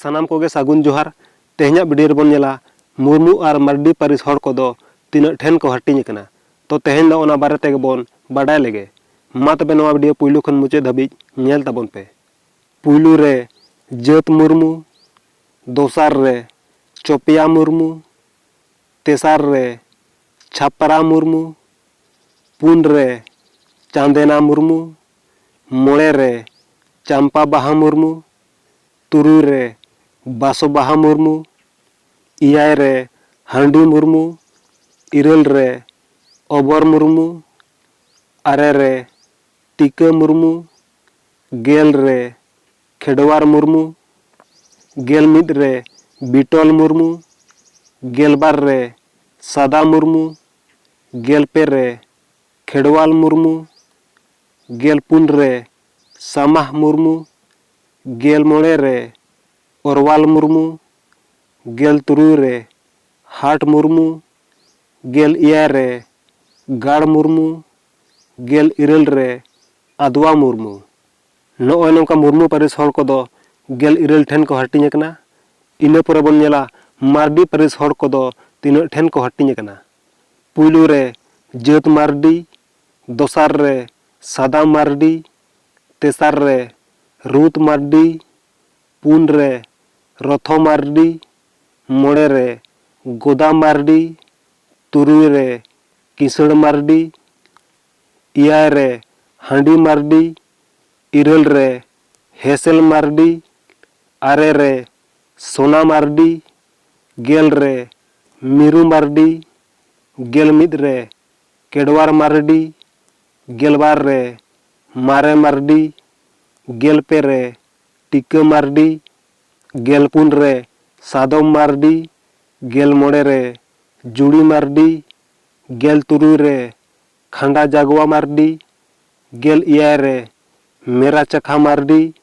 ᱥᱟᱱᱟᱢ ᱠᱚᱜᱮ ᱥᱟᱹᱜᱩᱱ ᱡᱚᱦᱟᱨ ᱛᱮᱦᱮᱧᱟᱜ ᱵᱷᱤᱰᱤᱭᱳ ᱨᱮᱵᱚᱱ ᱧᱮᱞᱟ ᱢᱩᱨᱢᱩ ᱟᱨ ᱢᱟᱨᱰᱤ ᱯᱟᱹᱨᱤᱥ ᱦᱚᱲ ᱠᱚᱫᱚ ᱛᱤᱱᱟᱹᱜ ᱴᱷᱮᱱ ᱠᱚ ᱦᱟᱹᱴᱤᱧ ᱟᱠᱟᱱᱟ ᱛᱚ ᱛᱮᱦᱮᱧ ᱫᱚ ᱚᱱᱟ ᱵᱟᱨᱮ ᱛᱮᱜᱮ ᱵᱚᱱ ᱵᱟᱰᱟᱭ ᱞᱮᱜᱮ ᱢᱟ ᱛᱚᱵᱮ ᱱᱚᱣᱟ ᱵᱷᱤᱰᱤᱭᱳ ᱯᱩᱭᱞᱩ ᱠᱷᱚᱱ ᱢᱩᱪᱟᱹᱫ ᱫᱷᱟᱹᱵᱤᱡ ᱧᱮᱞ ᱛᱟᱵᱚᱱ ᱯᱮ ᱯᱩᱭᱞᱩ ᱨᱮ ᱡᱟᱹᱛ ᱢᱩᱨᱢᱩ ᱫᱚᱥᱟᱨ ᱨᱮ ᱪᱚᱯᱮᱭᱟ ᱢᱩᱨᱢᱩ ᱛᱮᱥᱟᱨ ᱨᱮ ᱪᱷᱟᱯᱨᱟ ᱢᱩᱨᱢᱩ, ᱯᱩᱱ ᱨᱮ ᱪᱟᱸᱫᱮᱱᱟ ᱢᱩᱨᱢᱩ, ᱢᱚᱬᱮ ᱨᱮ ᱪᱟᱢᱯᱟ ᱵᱟᱦᱟ ᱢᱩᱨᱢᱩ, ᱛᱩᱨᱩᱭ ᱨᱮ ᱵᱟᱥᱚ ᱵᱟᱦᱟ ᱢᱩᱨᱢᱩ, ᱮᱭᱟᱭ ᱨᱮ ᱦᱟᱺᱰᱤ ᱢᱩᱨᱢᱩ, ᱤᱨᱟᱹᱞ ᱨᱮ ᱚᱵᱚᱨ ᱢᱩᱨᱢᱩ, ᱟᱨᱮ ᱨᱮ ᱴᱤᱠᱟᱹ ᱢᱩᱨᱢᱩ, ᱜᱮᱞ ᱨᱮ ᱠᱷᱮᱰᱣᱟᱨ ᱢᱩᱨᱢᱩ, ᱜᱮᱞ ᱢᱤᱫ ᱨᱮ ᱵᱤᱴᱚᱞ ᱢᱩᱨᱢᱩ, ᱜᱮᱞ ᱵᱟᱨ ᱨᱮ ᱥᱟᱫᱟ ᱢᱩᱨᱢᱩ, ᱜᱮᱞ ᱯᱮ ᱨᱮ ᱠᱷᱮᱰᱣᱟᱞ ᱢᱩᱨᱢᱩ, ᱜᱮᱞ ᱯᱩᱱ ᱨᱮ ᱥᱟᱢᱟᱦ ᱢᱩᱨᱢᱩ, ᱜᱮᱞ ᱢᱚᱬᱮ ᱨᱮ ᱚᱨᱣᱟᱞ ᱢᱩᱨᱢᱩ, ᱜᱮᱞ ᱛᱩᱨᱩᱭ ᱨᱮ ᱦᱟᱴ ᱢᱩᱨᱢᱩ, ᱜᱮᱞ ᱮᱭᱟᱭ ᱨᱮ ᱜᱟᱲ ᱢᱩᱨᱢᱩ, ᱜᱮᱞ ᱤᱨᱟᱹᱞ ᱨᱮ ᱟᱫᱣᱟ ᱢᱩᱨᱢᱩ᱾ ᱱᱚᱜᱼᱚᱭ ᱱᱚᱝᱠᱟ ᱢᱩᱨᱢᱩ ᱯᱟᱹᱨᱤᱥ ᱦᱚᱲ ᱠᱚᱫᱚ ᱜᱮᱞ ᱤᱨᱟᱹᱞ ᱴᱷᱮᱱ ᱠᱚ ᱦᱟᱹᱴᱤᱧ ᱟᱠᱟᱱᱟ᱾ ᱤᱱᱟᱹ ᱯᱚᱨᱮ ᱵᱚᱱ ᱧᱮᱞᱟ ᱢᱟᱨᱰᱤ ᱯᱟᱹᱨᱤᱥ ᱦᱚᱲ ᱠᱚᱫᱚ ᱛᱤᱱᱟᱹᱜ ᱴᱷᱮᱱ ᱠᱚ ᱦᱟᱹᱴᱤᱧ ᱟᱠᱟᱱᱟ᱾ ᱯᱩᱭᱞᱩ ᱨᱮ ᱡᱟᱹᱛ ᱢᱟᱨᱰᱤ, ᱫᱚᱥᱟᱨ ᱨᱮ ᱥᱟᱫᱟ ᱢᱟᱨᱰᱤ, ᱛᱮᱥᱟᱨ ᱨᱮ ᱨᱩᱛ ᱢᱟᱨᱰᱤ, ᱯᱩᱱ ᱨᱮ ᱨᱚᱛᱷᱚ ᱢᱟᱨᱰᱤ, ᱢᱚᱬᱮ ᱨᱮ ᱜᱚᱫᱟ ᱢᱟᱨᱰᱤ, ᱛᱩᱨᱩᱭ ᱨᱮ ᱠᱤᱥᱟᱹᱬ ᱢᱟᱨᱰᱤ, ᱮᱭᱟᱭ ᱨᱮ ᱦᱟᱺᱰᱤ ᱢᱟᱨᱰᱤ, ᱤᱨᱟᱹᱞ ᱨᱮ ᱦᱮᱸᱥᱮᱞ ᱢᱟᱨᱰᱤ, ᱟᱨᱮ ᱨᱮ ᱥᱚᱱᱟ ᱢᱟᱨᱰᱤ, ᱜᱮᱞ ᱨᱮ ᱢᱤᱨᱩ ᱢᱟᱨᱰᱤ, ᱜᱮᱞ ᱢᱤᱫ ᱨᱮ ᱠᱮᱰᱣᱟᱨ ᱢᱟᱨᱰᱤ, ᱜᱮᱞ ᱵᱟᱨ ᱨᱮ ᱢᱟᱨᱮ ᱢᱟᱨᱰᱤ, ᱜᱮᱞ ᱯᱮ ᱨᱮ ᱴᱤᱠᱟᱹ ᱢᱟᱨᱰᱤ, ᱜᱮᱞ ᱯᱩᱱ ᱨᱮ ᱥᱟᱫᱚᱢ ᱢᱟᱨᱰᱤ, ᱜᱮᱞ ᱢᱚᱬᱮ ᱨᱮ ᱡᱩᱲᱤ ᱢᱟᱨᱰᱤ, ᱜᱮᱞ ᱛᱩᱨᱩᱭ ᱨᱮ ᱠᱷᱟᱸᱰᱟ ᱡᱟᱜᱣᱟ ᱢᱟᱨᱰᱤ, ᱜᱮᱞ ᱮᱭᱟᱭ ᱨᱮ ᱢᱮᱨᱟ ᱪᱟᱠᱷᱟ ᱢᱟᱨᱰᱤ,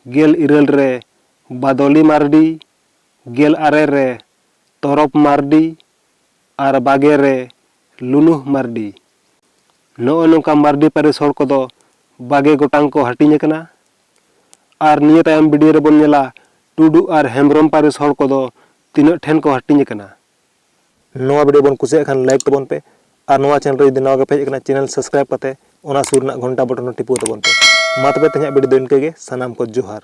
ᱜᱮᱞ ᱤᱨᱟᱹᱞ ᱨᱮ ᱵᱟᱫᱚᱞᱤ ᱢᱟᱨᱰᱤ, ᱜᱮᱞ ᱟᱨᱮ ᱨᱮ ᱛᱚᱨᱚᱯ ᱢᱟᱨᱰᱤ ᱟᱨ ᱵᱟᱜᱮ ᱨᱮ ᱞᱩᱱᱩᱦ ᱢᱟᱨᱰᱤ᱾ ᱱᱚᱜᱼᱚᱭ ᱱᱚᱝᱠᱟ ᱢᱟᱨᱰᱤ ᱯᱟᱹᱨᱤᱥ ᱦᱚᱲ ᱠᱚᱫᱚ ᱵᱟᱜᱮ ᱜᱚᱴᱟᱝ ᱠᱚ ᱦᱟᱹᱴᱤᱧ ᱟᱠᱟᱱᱟ ᱟᱨ ᱱᱤᱭᱟᱹ ᱛᱟᱭᱚᱢ ᱵᱤᱰᱤᱭᱳ ᱨᱮᱵᱚᱱ ᱧᱮᱞᱟ ᱴᱩᱰᱩ ᱟᱨ ᱦᱮᱢᱵᱽᱨᱚᱢ ᱯᱟᱹᱨᱤᱥ ᱦᱚᱲ ᱠᱚᱫᱚ ᱛᱤᱱᱟᱹᱜ ᱴᱷᱮᱱ ᱠᱚ ᱦᱟᱹᱴᱤᱧ ᱟᱠᱟᱱᱟ᱾ ᱱᱚᱣᱟ ᱵᱷᱤᱰᱤᱭᱳ ᱵᱚᱱ ᱠᱩᱥᱤᱭᱟᱜ ᱠᱷᱟᱱ ᱞᱟᱭᱤᱠ ᱛᱟᱵᱚᱱ ᱯᱮ ᱟᱨ ᱱᱚᱣᱟ ᱪᱮᱱᱮᱞ ᱨᱮ ᱡᱩᱫᱤ ᱱᱟᱣᱟ ᱜᱮᱯᱮ ᱦᱮᱡ ᱟᱠᱟᱱᱟ ᱪᱮᱱᱮᱞ ᱥᱟᱵᱥᱠᱨᱟᱭᱤᱵ ᱠᱟᱛᱮ ᱚᱱᱟ ᱥᱩᱨ ᱨᱮᱱᱟᱜ ᱜᱷᱚᱱᱴᱟ ᱵᱚᱴᱚᱱ ᱦᱚᱸ ᱴᱤᱯᱟᱹᱣ ᱛᱟᱵᱚᱱ ᱯᱮ ᱢᱟ ᱛᱚᱵᱮ ᱛᱮᱦᱮᱧᱟᱜ ᱵᱷᱤᱰᱤᱭᱳ ᱫᱚ ᱤᱱᱠᱟᱹ ᱜᱮ ᱥᱟᱱᱟᱢ ᱠᱚ ᱡᱚᱦᱟᱨ